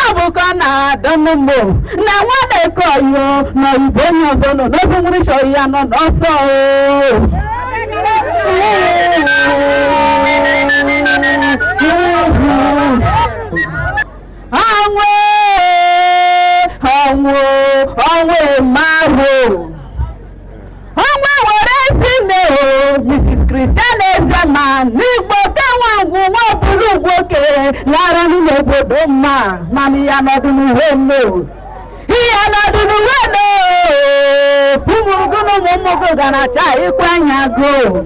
akụkọ na-adọnụ mgbo na nwada ekoyo na oyibo onye ọzọ nọ n'ozi nwere chọrọ ya nọ n'ọsọ ọnwụ ọnwụ ọnwụ mmadụ ọnwụ were ezi nne o mrs christian ezema n'igboke nwa ngwu nwa bụrụ ugwuoke lara n'ime obodo mma mana ya nọdụ n'uwe nne o ihe nọdụ n'uwe nne o ụmụ gị na ụmụ ụmụ gị ga na-acha ịkwa anya goo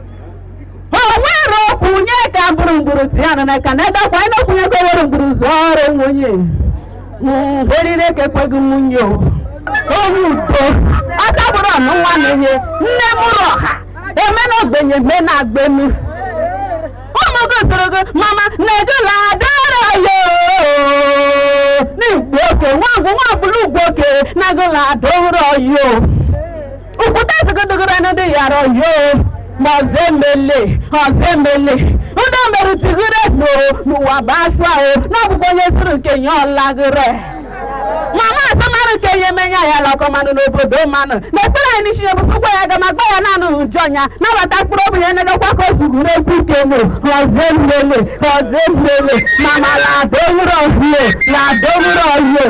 owere okwu nye ka mbụrụ mgburu ti ya na ka na ebe kwa anyị okwu nye ka owere mgburu zụọ ọrụ nwunye orire ka ekweghị nwunye o onye udo ọtabụrụ ọnụ nwa na ihe nne mụrụ ọha eme na ogbenye eme na agbenu ụmụ gị soro gị mama na ego na adara ya n'igboke nwa ngwu nwa bụrụ ugwuoke na ego na adọrọ ya Ukwuta zụgụdụgụrụ anụ dị yara oyo ma ọzọ emele ọzọ emele ndo mere tigire n'o n'ụwa bụ asụa o n'ọ bụkwa onye zụrụ nke nye ọlagịre mama asamarụ nke ihe menya ya lakọ mmanụ n'obodo mmanụ na ekpere anyị n'isi ya bụ chukwu abịama gba ya naanị ụjọ ya nabata mkpụrụ obi ya nedokwa ka o zugoro egwu ike mụ ọzọ emele ọzọ emele mama ladowuro oyi o ladowuro oyi o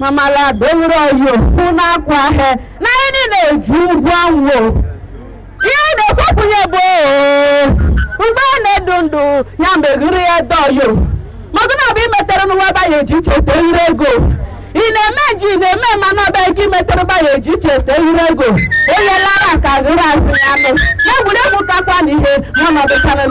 mama ladowere oyi o n'akwa he na anyị niile eji ụgwọ ọnwụ ihe a na-ekwepụnye bụ mgbe a na-adị ndụ ya meghere ya dị oyi maka na ọ bụ ihe i metere n'ụwa ebe anyị eji echete ire ego ị na-eme nji ị na-eme ma na ọ bụ ihe i metere ebe anyị eji echete ire ego onye lara ka gịrị asị ya nụ egwuregwu kakwa na ihe n'ọnọdụ karịrị